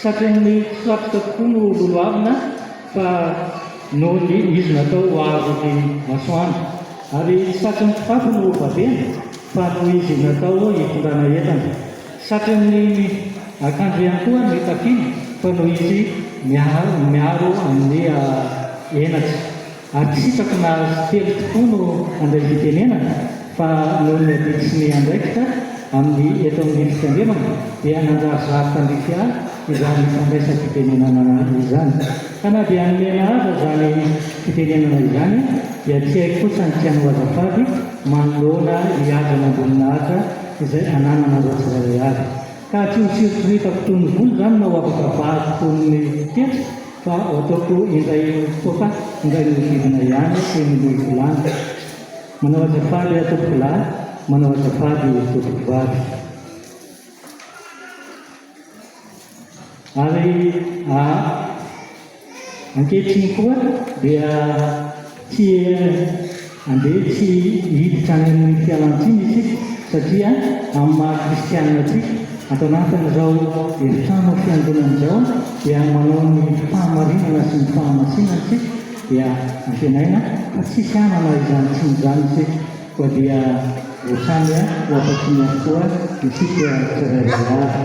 Tratran'ny mpisoakotra tokoa no goavana fa noho ny izy natao ho aro ny masoandro. Ary tsy tratran'ny mpitafy no vavena fa noho izy natao hitondrana entana. Tsy tratran'ny akanjo ihany koa ny tafiana fa noho izy miaro amin'ny henatra. Ary tsy hitako na azy telo tokoa no handray fitenenana fa noho ny adidy sy ny andraikitra amin'ny eto amin'ny fitandremana dia nanjarizary tandrify ahy izany fandraisam-pitenenana izany. Ka na dia nomena aza izany fitenenana izany dia tsy hay kosa ny tianao azafady manoloana ny hajan'Amboninahitra izay anananareo tsirairay avy. Ka tsy ho sirotsiritako toy ny vola izany na ho afaka vahiko toy ny tetra? Fa ataoko indray fotoana indray manodidina ihany teny Moivolana. Manao azafady aho tompoko lahy, manao azafady tompoko vavy. Ary ankehitriny koa dia. Tiens, andeha tsy hiditra any amin'iny fialantsiny isika satria amin'ny maha kristianina antsika, ato anatin'izao efitrano fiangonana izao dia manao ny fahamarinana sy ny fahamasinana isika dia antenaina fa tsisy hanana izany tsiny izany isika, koa dia ho samy ho afa-tsiny avokoa isika tsirairay avy.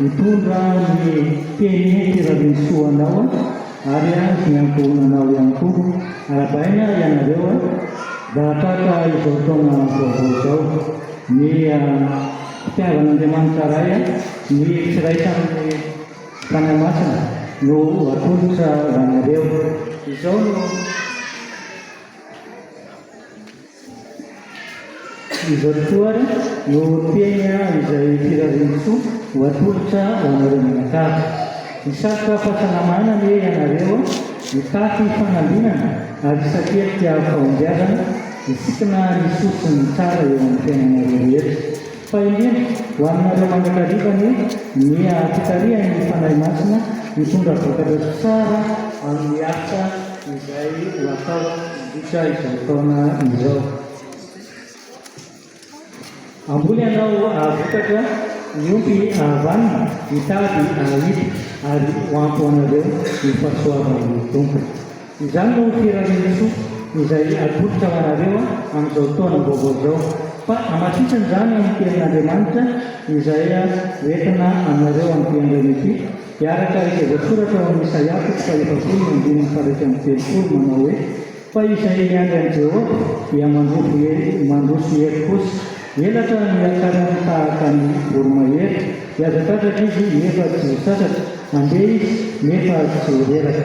Mitondra ny tenue tirarisoa anao ary an ny ankohonanao ihany koa. Arabaina ianareo a! Zahataka izao taona vaovao izao. Ny fitiavan'Andriamanitra Ray a, ny firaisan'ny Fanahy Masina no ho atolotra ho anareo. Izao no. Izao tokoa ary no teny izay firariantsoa ho atolotra ho anareo mianakavy. Hisatroka fahasalamana anie ianareo, hitafy fanambinana ary hisakelika fahombiazana, hisikina ny soa sy ny tsara eo amin'ny fiainanareo rehetra. Fa indrindra, ho anareo mandrakariva anie, ny haha-fitarihan'ny Fanahy Masina hitondra vokatra sy tsara amin'ny asa izay ho atao mandritra izao taona izao. Hamboly ianao hahavokatra, miompy hahavanona, mitady hahita, ary ho ampy ho anareo ny fahasoavan'ny Tompo. Izany no firarian'ny soa izay atolotra ho anareo amin'izao taona vaovao izao, fa hamafisan' izany amin'ny tenin' Andriamanitra izay hoentina aminareo amin'ity androany ity, hiaraka izay voasoratra ao amin'ny Isaia toko faha-efapolo ny andininy faha-iraika amby telopolo manao hoe, Fa izay miandry an'i Jehovah dia mandroso hery, mandroso hery kosa, elatra ny hiakarany tahaka ny voromahery, hihazatradraka izy, nefa tsy ho sasatra, handeha izy, nefa tsy ho reraka.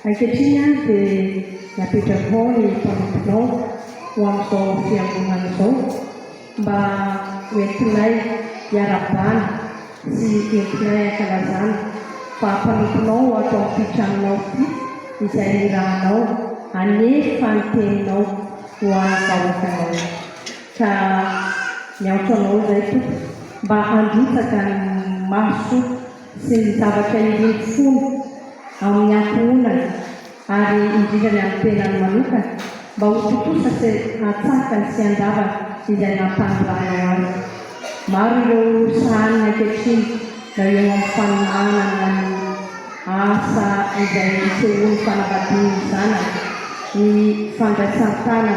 Ankehitriny ary dia napetrakao ny mpanomponao ho amin'izao fiangonana izao mba ho entinay hiara-bana sy entinay hankalazana fa mpanomponao ato amin'ity tranonao ity izay nirahanao hanefa ny teninao ho an'ny vahoakanao. Ka miantso anao izay Tompo mba handrotsaka ny maso sy ny zavatra iriako fona ao amin'ny ankohonana ary indrindra ny amin'ny tenany manokana mba ho tontosa sy hatsakany sy handavany izay nampanoranao azy. Maro ireo sahaniny ankehitriny na eo amin'ny faminahana na ny asa izay isehoan'ny fanambadian'ny zanany, ny fandraisan-tanana,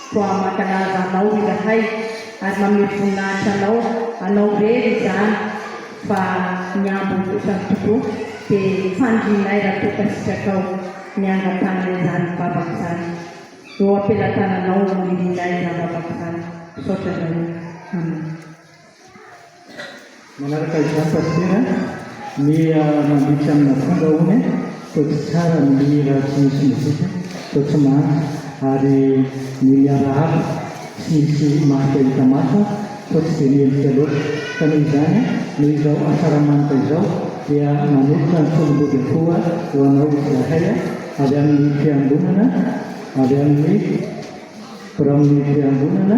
Toa mankalaza anao izahay ary manome voninahitra anao, anao irery izany fa ny ambiny kosa ny tompo dia fanirianay raha toa ka sitrakao ny hangatahana izany vavaka izany. Eo am-pelatananao no irianay izany vavaka izany. Misaotra anareo. Amen. Manaraka izany Pasitera ny mandika amina fomba hono fa tsy tsara ny mihira tsy misy mozika fa tsy manda ary ny miarahaba tsy misy marika hita maso fa tsy dia mendrika loatra ka noho izany noho izao asaramanitra izao dia manolotra ny tolom-body akoha ho anao izahay avy amin'ny fiangonana avy amin'ny biraon'ny fiangonana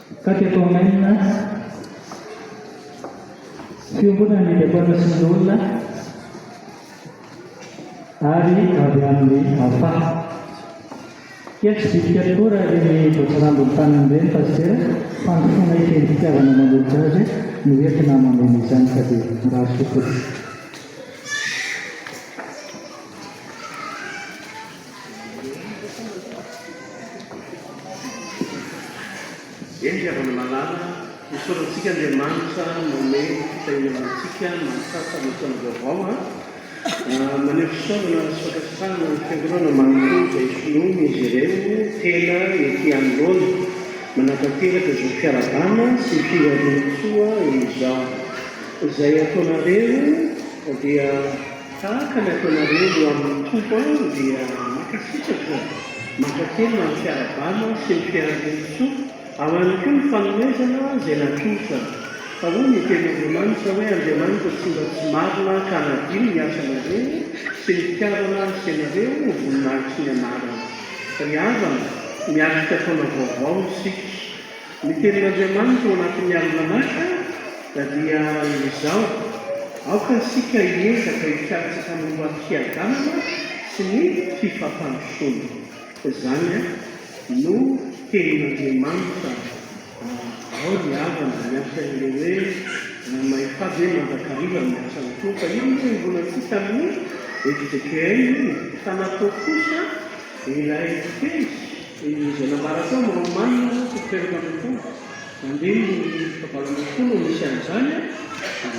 Taty Akohamaina, Fiombonana ny Diakonina sy ny Loholona ary avy amin'ny Afa. Kia tsy dika tokoa raha ireny voatsirambin'ny tanana ireny Pasitera, fandosoana ekeny fitiavana manolotra azy no entina hameno izany ka dia mirary soa tompoko. Eny, ry havana malala, isaorana antsika Andriamanitra nanome fitahiana ho antsika mahatratra amin'ny taona vaovao a! Maneho fisaorana sy fankasitrahana ny Fiangonana manontolo izay finoany izy ireo tena ety anoloana. Manatanteraka izao fiarahabana sy firaisantsoa izao izay ataonareo dia. Tahaka ny ataonareo eo amin'ny Tompo aho dia mankasitraka e! Mankatelina amin'ny fiarahabana sy ny fiaharam-botontsoa, ao ihany koa ny fanomezana izay natolotra. Fa hoy ny tenin'Andriamanitra hoe Andriamanitra tsy mba tsy marina ka hanadino ny asanareo sy ny fitiavana asianareo ho voninahitry ny anarany. Ry havana, miatrika taona vaovao isika. Ny tenin'Andriamanitra ao anatin'ny Almanaka dia izao, Aoka isika hiezaka hikatsaka ny ho am-piadanana sy ny fifampandrosoana. Izany no tenin'Andriamanitra. Ao ny havana miantso an'ireo hoe, Mahefady hoe mandrakariva ny asan'ny Tompo. Io no iombonantsika tamin'ny Ezekiela, fa natao kosa ilay teny. Izay nambara tao no omanina moa tsy miteraka an'ireo fomba mandeha ny fikambanana tokoa no misy an'izany a!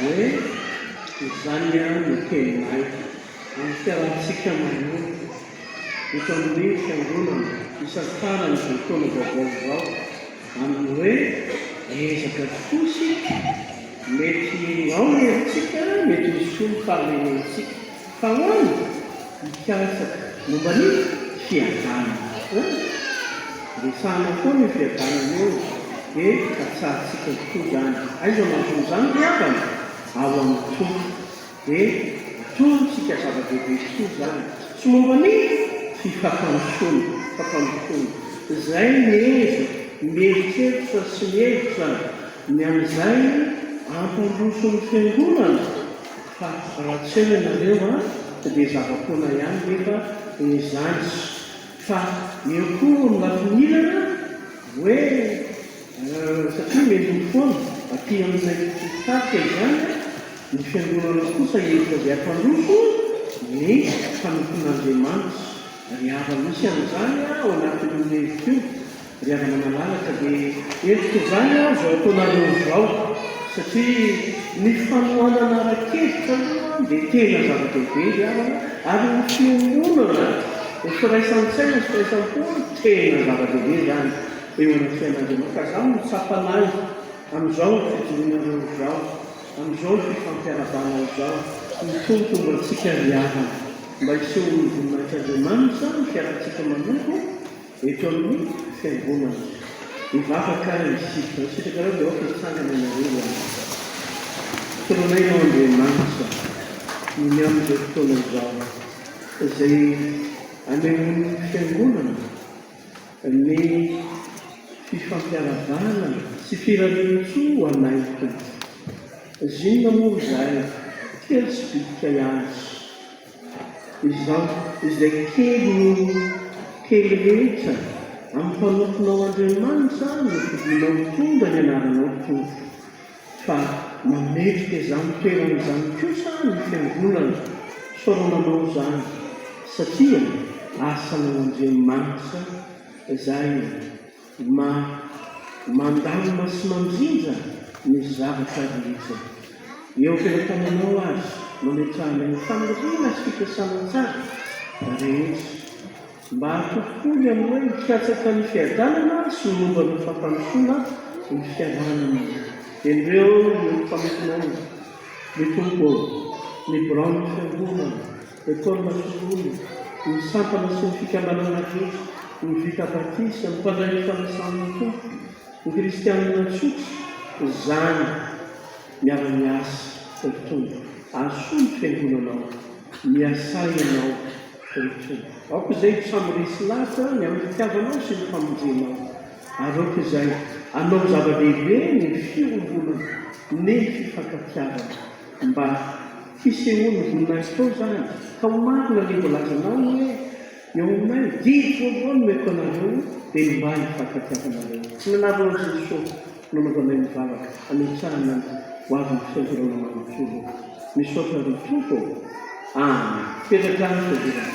Ie, izany ihany no teninay amin'ny fiarahantsika manompo eto amin'ny fiangonana isantsara an'izao taona vaovao izao amin'ny hoe ezaka tokoa isika, mety ao ny herintsika, mety misolo fahalemena antsika. Fa hono mikasaka momba ny fiadanana tokoa, resahana foana io fiadanana io dia katsahantsika tokoa izany. Aiza no anton'izany ry havana? Ao amin'ny Tompo. Dia antontsika zava-dehibe tokoa izany. Tsy momba ny fifampandrosoana, fifampandrosoana. Izay miezo, mieritreritra sy mihevitra ny amin'izay hampandroso ny Fiangonana. Fa raha tsy eo ianareo an dia zava-poana ihany nefa ny zandriko. Fa eo koa hono lafinilana hoe an, satria meloa foana aty aminay faritra izany an, ny fiangonana kosa hevitra dia hampandroso ny mpanompon'Andriamanitra. Ry havana misy an'izany an ao anatin'io hevitra io Ry havana malalaka dia hentitra izany aho izao ataonareo izao satria ny fanohanana ara-kevitra aloha dia tena zava-dehibe ry havana ary ny fiombonana ny firaisan-tsaina sy firaisam-po tena zava-dehibe izany eo amin'ny fiainanareo ka izany no tsapanay amin'izao fijoroanareo izao amin'izao fifampiarahabana izao. Ny Tompo ho antsika ry havana. Mba hisehoan'ny voninahitr'Andriamanitra ny fiarantsika manompo. Eto amin'ny fiangonana. Hivavaka isika. Nisitrakareo dia aoka hitsangana ianareo ho ahy. Teninay ianao Andriamanitra ny ny amin'izao fotoana izao izay anehoan'ny fiangonana ny fifampiarahabana sy firarian-tsoa ho anay Tompo. Zinona moa izahay kely sy bitika azy. Izaho izay kely noho ny kely rehetra, amin'ny fanofonao Andriamanitra no fidinao mitondra ny anaranao Tompo. Fa mametrika izany toerana izany kosa ny Fiangonana, soramanao izany satria asanao Andriamanitra izay e. Ma, mandamina sy mandrindra ny zavatra rehetra. Eo am-pelatananao aza no ametrahanay ny faniriana sy fikasana tsara rehetra, mba hatokipoy ny amin'ny hoe hikatsaka ny fiadanana sy ny momba ny fampandrosoana ny fiaraha-monina. Endreo ny famintinana, ny Tompo ô, ny biraon'ny Fiangonana. Lekôla finoana, ny sampana sy ny fikambanana rehetra, ny vita batisa, ny mpandray ny fanasan'ny Tompo, ny kristianina tsotra, izany miara-miasa ry Tompo, asoa ny fiangonanao, miasà Ianao ry Tompo, aoka izay ho samy resy lahatra ny amin'ny fitiavanao sy ny famonjenao, ary aoka izay hanao zava-dehibe ny fiombonana ny fifankatiavana. Mba fisehoan'ny voninahitry tao izany, ka ho marina ny voalazanao hoe, Eo aminay, didy vaovao no omeko anareo, dia ny mba hifankatiavanareo. Tsy nanavona an'i Jesosy no nanaovanay nivavaka hanitsahana ny ho avin'ny fianjorana manontolo. Misaotra ry Tompo ô! Amen! Petraka any fianjorana.